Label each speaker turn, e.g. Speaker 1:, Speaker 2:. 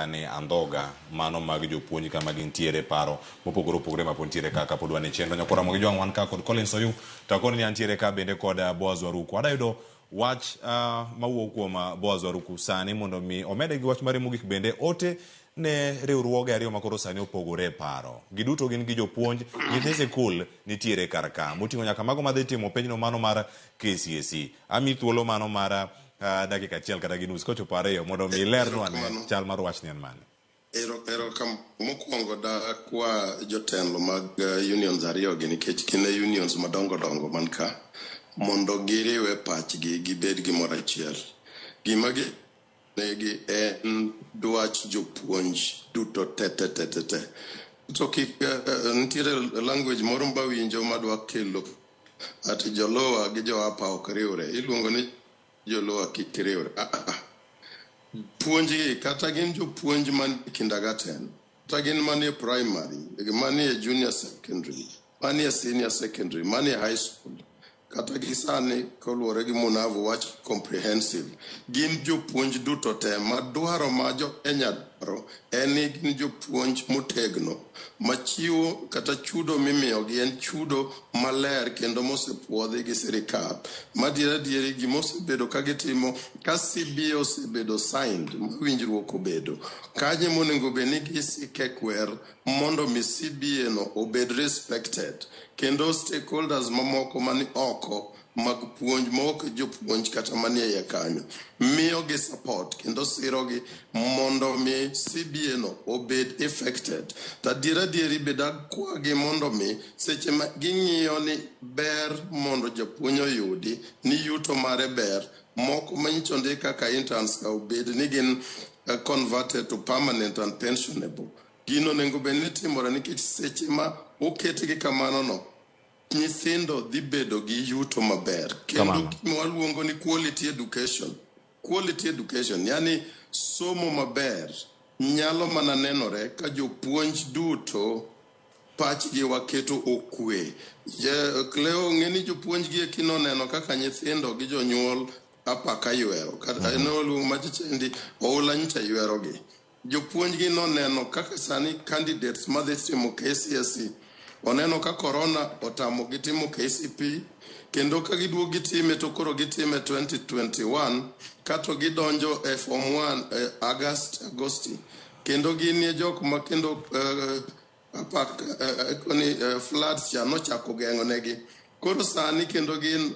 Speaker 1: ni andhoga mano mag jopuonj kama gintiere paro mopogore opogore ma pod ntiere ka kapod wan e chenro nyakora mogi jwang' wan ka kod Collins Oyuu to akoni ni antiere ka bende kod ah, Boaz Waruku adayudo wach ah, mawuok kuom ah, Boaz Waruku sani mondo mi omede gi wach mare mogik bende ote ne riwruoge ariyo ma koro sani opogore e paro giduto gin gi jopuonj nyithi sikul nitiere kar ka moting'o nyaka mago madhi timo penjno mano mar KCSE ami thuolo mano mar ah, uh, dakika achiel kata gi nus kochopo ariyo mondo mi ilernwa ane Erokamano. chal mar wachni en mane Ero, ero kam,
Speaker 2: mokwongo dakwa jotelo mag eh, unions ariyogi nikech gin e unions madongo dongo man ka mondo giriwe pachgi gibed gimoro achiel. Gima gi negi en dwach jopuonj duto te te te te te. To kik eh, eh, nitiere language moro mbawinjo madwa kelo Ati jolowa gi joapa ok riwre, iluongo ni jolowa kik riwre. Ah, ah, ah. Puonjgi kata gin jopuonj man e kindergarten, kata gin manie primary, manie junior secondary, manie senior secondary, manie high school, kata gi sani koluwore gi Munavu wach comprehensive, gin jopuonj duto te ma dwaro ma jo Kenya dwaro en ni gin jopuonj motegno ma chiwo kata chudo mimiyogi en chudo maler kendo mosepwodhi gi sirikal madiera dieri gima osebedo ka gitimo ka CBA osebedo signed ma winjruok obedo kanye monego bed ni gisike kwer mondo mi CBA no obed respected kendo stakeholders mamoko mani oko mag puonj maok e jopuonj kata manie iye kanyo miyogi support kendo sirogi mondo mi CBA no obed effected. To adier adier ibed akwagi mondo mi seche ma ging'iyo ni ber mondo japuonj oyudi ni yuto mare ber moko manyicha ondik kaka interns ka obed ni gin eh, converted to permanent and pensionable. Gino onego bed ni timore nikech seche ma oketgi kamano no Nyithindo dhi bedo gi yuto maber kendo Kamano. gima waluongo ni quality education. Quality education yani somo maber nyalo mana nenore ka jopuonj duto pachgi waketo okwe. Je- Cleo ng'e ni jopuonj gi eki noneno kaka nyithindo gi jonyuol apaka ywero kata mm-hmm. noluongo machichendi oula nyicha ywerogi. Jopuonjgi noneno kaka sani candidates madhi timo KCSE oneno ka korona otamogi timo KCPE kendo ka giduogo gitime to koro gitime 2021 kato gidonjo e form 1 e August Agosti kendo ginie jok ma kendo eh, apak eh, eh, koni, eh, floods cha nochako geng'onegi koro sani kendo gin